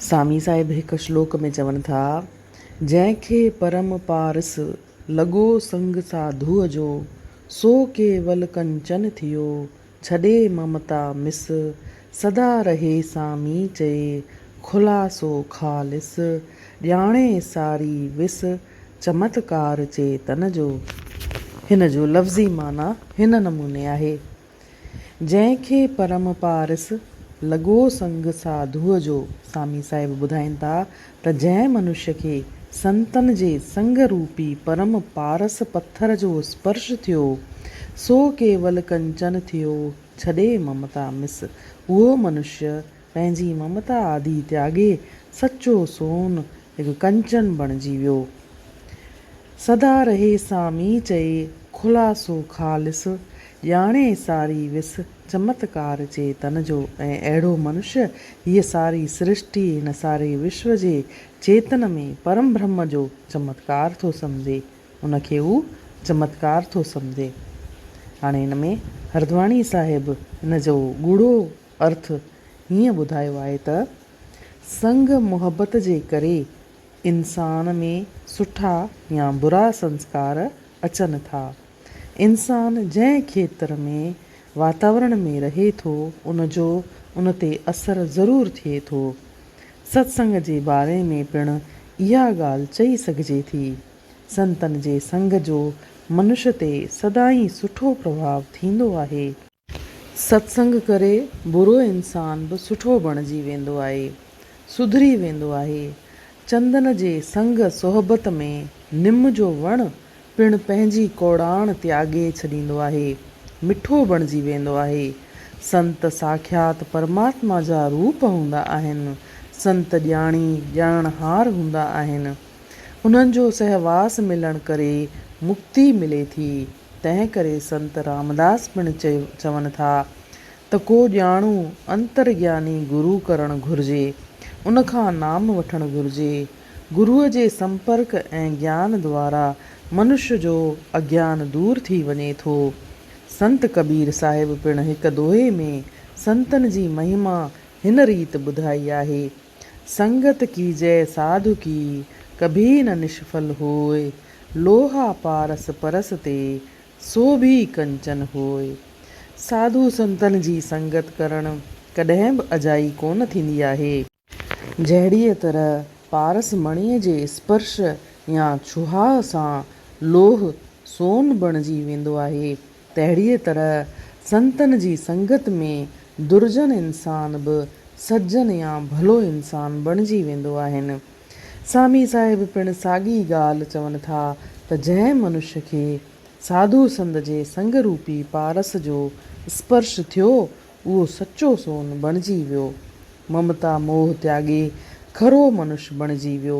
سامي صاحب هڪ شلوڪ ۾ چون ٿا، جنهن کي پرم پارس لڳو سنگ ساڌوء جو، سو ڪيول ڪنچن ٿيو، ڇڏي ممتا مس، سدا رهي سامي چئي، خلاصو خالص، ڄاڻي ساري وس، چمتڪار چيتن جو. هن جو لفظي معنيٰ هن نموني آهي. جنهن کي پرم پارس لڳو سنگ ساڌوء جو سامي صاحب ٻڌائين ٿا ته جنهن منشي کي سنتن جي سنگ روپي پرم پارس پٿر جو اسپرش ٿيو سو ڪيول ڪنچن ٿيو ڇڏي ممتا مس اهو منشي پنهنجي ممتا آدي تياڳي سچو سون هڪ ڪنچن بڻجي ويو. سدا رهي سان مين چئي خلاصو خالص ڄاڻي ساري وس چمتڪار چيتن جو ۽ اهڙو منش هيء ساري سرشٽي هن ساري وشو جي چيتن ۾ پرم برهمه جو چمتڪار ٿو سمجهي ان کي هو چمتڪار ٿو سمجهي هاڻي هن ۾ هردواڻي صاحب هن جو ڳوڙهو ارٿ هيئن ٻڌايو آهي ته، سنگ محبت جي ڪري انسان ۾ سٺا يا برا سنسڪار اچن ٿا. انسان جنهن کيتر ۾ واتاورڻ ۾ رهي ٿو، ان جو ان تي اثر ضرور ٿئي ٿو. ستسنگ جي باري ۾ پڻ اها ڳالهه چئي سگهجي ٿي. سنتن جي سنگ جو منش تي سدائين سٺو پرڀاء ٿيندو آهي. ستسنگ ڪري برو انسان به سٺو بڻجي ويندو آهي، سڌري ويندو آهي. چندن جي سنگ صحبت ۾ نم جو وڻ پڻ پنهنجي ڪوڙاڻ تياڳي ڇڏيندو آهي، مٺو بڻجي ويندو آهي. سنت ساکيات پرماتما جا روپ هوندا آهن. سنت ڄاڻي ڄاڻڻهار هوندا آهن. انهن جو سهواس ملڻ ڪري مڪتي ملي ٿي. تنهن ڪري سنت رامداس پڻ چون ٿا ته ڪو ڄاڻو انترگياني گرو ڪرڻ گهرجي، ان کان نام وٺڻ گهرجي. گروء جي سمپرڪ ۽ گيان دوارا منش جو اگيان دور ٿي وڃي ٿو. سنت ڪبير صاحب پڻ هڪ دوهي ۾ سنتن جي مهما هن ريت ٻڌائي آهي. سنگت ڪيجئه ساڌو ڪي، ڪڀي نه نشڦل هوئي. لوها پارس پرس تي، سو ڀي ڪنچن هوئي. ساڌو سنتن جي سنگت ڪرڻ ڪڏهن به اجائي ڪونه ٿيندي آهي. جهڙيء طرح پارس مڻيء جي اسپرش يا ڇهاء سان لوهه سون بڻجي ويندو آهي، تهڙيء طرح سنتن جي سنگت ۾ درجن انسان به سجن يا ڀلو انسان بڻجي ويندو آهن. سامي صاحب پڻ ساڳي ڳالهه چون ٿا ته جنهن منش کي ساڌو سنت جي سنگ روپي پارس جو اسپرش ٿيو، اهو سچو سون بڻجي ويو. ممتا موهه تياڳي کرو منش بڻجي ويو.